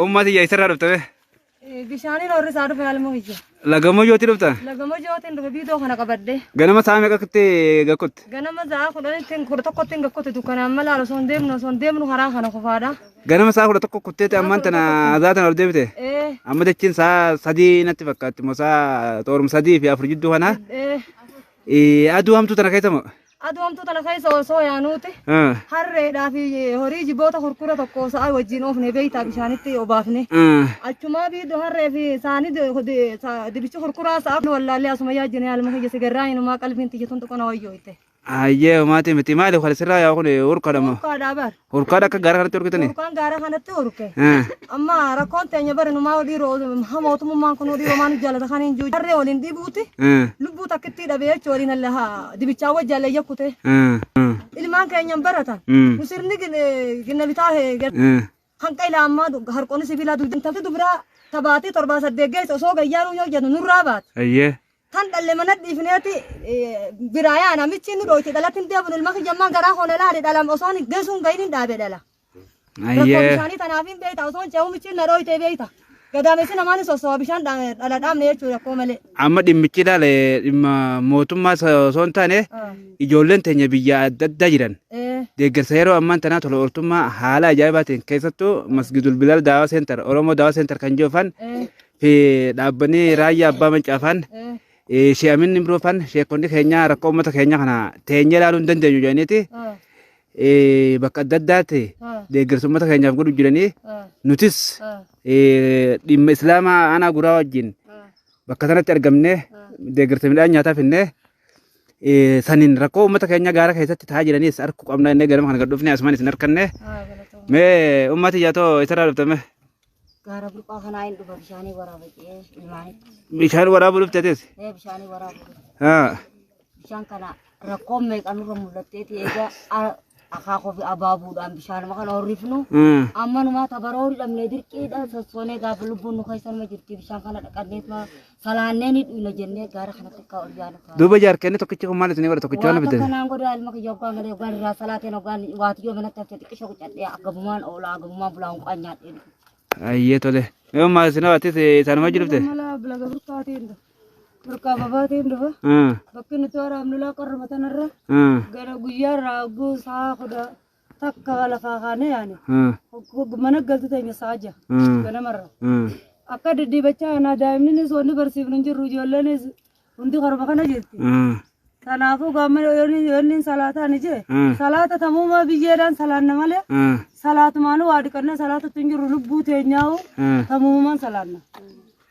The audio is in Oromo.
Ummaa tiyya isarraa dhufte bee. Bishaaniin horri isaa dhufe haalmoo ija. Lagamoo yooti dhufta. Lagama jootiin dhufe biidoo kana qabadde. Ganama sa'a meeqa kutte gakkutte? Ganama za'a kudhanittiin kudha tokkottiin gakkote dukkanaan mala osoo hin deemnu osoo hin deemnu karaa kana kufaadha. Ganama sa'a kudha tokko kutteeti ammaan tana azaa tana ol deebite. Ee Amma jechiin sa'a sadii natti fakkaatti moo sa'a xoorum sadii fi afur jidduu kana. ee Eh, aduu hamtuu tana keessa moo? Aduu hamtuu tana keessa osoo yaanuuti Mm. harreedhaa fi horii jiboota kurkura tokko sa'a wajjin oofne beeytaa bishaanitti obaafne. Mm. Achumaa biiddu harree fi saanii di- di- sa- dibichi kurkuraa sa'a wallaallee asuma yaa jenee haaluma kiyya sigarraa inumaa qalbiin tiyya tun tuqana wayyoo itte. Ayyee maatii miti maaliif kan sirraa yaa kun urkadhama. Urkaadhaa bar. Hurkaadha akka gaara kanatti hurkitanii? Hurkaan gaara kanatti hurke. Eh. Amma rakkoon teenya bari numaa odii roo ha mootummaan kun odii romaan jaalata kan hin jiru. Jarree waliin dhibuuti. Eh. Lubbuu takkittii dhabee jechuun waliin halla haa dibichaa wajjin halla yakkute. Eh. Eh. Ilmaan keenyan baratan. Mm. Nu sirni gin- ginna bitaa hee gad- Eh. hanqa ilaa ammaa du- harqoonni sibiilaa dugdaan. Intalti dubiraa tabaatee torbaa saddeet geesse osoo gayyaanuu yoo jennu nurraa baate. Ayyee. Kan dhalle mana dhiifneeti biraa yaa namichi inni dhooyti dhalatti hin deebinu ilma kiyya ammaa garaa hoona laale dhalam osoon hin geessu hin gahin hin dhaabe dhala. Rakkoo Ayyee. bishaanii tanaaf hin beekta osoon ce'uu michiin na dhooytee beekta. Gadaamessi namaan hin sossoba bishaan dha- dhala dhaabne jechuudha rakkoo malee. Amma dhimmichi ilaale dhimma mootummaa osoo hin taane Ah, ijoolleen teenya biyya adda addaa jiran eh, deeggarsa yeroo ammaa tanaa tola ooltummaa haala ajaa'ibaatiin keessattuu masgidul bilal daawaa seentar oromoo daawaa seentar kan jiran eh, Fi dhaabbanni raayyaa abbaa mancaafaan shee'aminni imroofaan sheekonni keenya rakkoo uummata keenya kana teenyee ilaaluu hin dandeenyu jedhaniiti eh, bakka adda addaatti deeggarsa uummata keenyaaf godhu jiranii nutis eh, dhimma islaamaa aanaa guraa wajjin bakka sanatti argamnee deeggarsa midhaan nyaataa finnee eh, saniin rakkoo uummata keenya gaara keessatti taa'aa jiraniis harkuu qabna innee ganama kana gad dhufnee asumaan isin harkanne mee uummati yaatoo isarraa dhuftame Gaara burqaa kanaa hin dhufa bishaanii waraaba jedhee ilmaanitti. Bishaan waraabuu dhufte atis? Ee bishaanii waraabuu dhufa. Haa. Bishaan kana rakkoon meeqa nurra mul'atteeti egaa a- akaakoo fi abaabuudhaan bishaanuma kana horrifnu. Mm. Amma numaa tabaroo hin dhabne dirqiidha sossoonee gaafa lubbuun nu keessa nama jirti bishaan kana dhaqanneetuma salaannee ni dhuyna jennee gaara kanatti akka ol yaanu ta'a. Duuba jaarkeenni tokkichi kun maal isin godha tokkichi waan Waan bitan. kanaan godhaa ilma kiyya oggaa galee oggaa irraa salaateen oggaa waatiyyoo manatti haftee xiqqisha qucadhee agabumaan oolaa agabumaan bulaa hunqaa nyaadhee. Ayyee tole. Yoo maal isin hawaatis isaanuma jirte. Mala bilaga burkaatiin dhufa. Burkaa babaatiin dhufa. Bakki nuti waraabnu laa qorruma tanarra. Gara guyyaa irraa oguu sa'a kudha takka lafaa kaanee yaane Hmm. hog- mana galtu teenya sa'a jaha Hmm. ganamarra. Hmm. Akka deddeebachaa kanaa daa'imninis wanni barsiifnu hin jirru ijoolleenis hundi karuma kana jirti. Hmm. Kanaafuu gaamma yoonni salaataan ijee Hmm. salaata tamuumaa biyyeedhaan salaanna malee Hmm. salaatumaan waa dhiqannee salaatatti hin jirru lubbuu teenyaa'u Hmm. tamuumaan salaanna.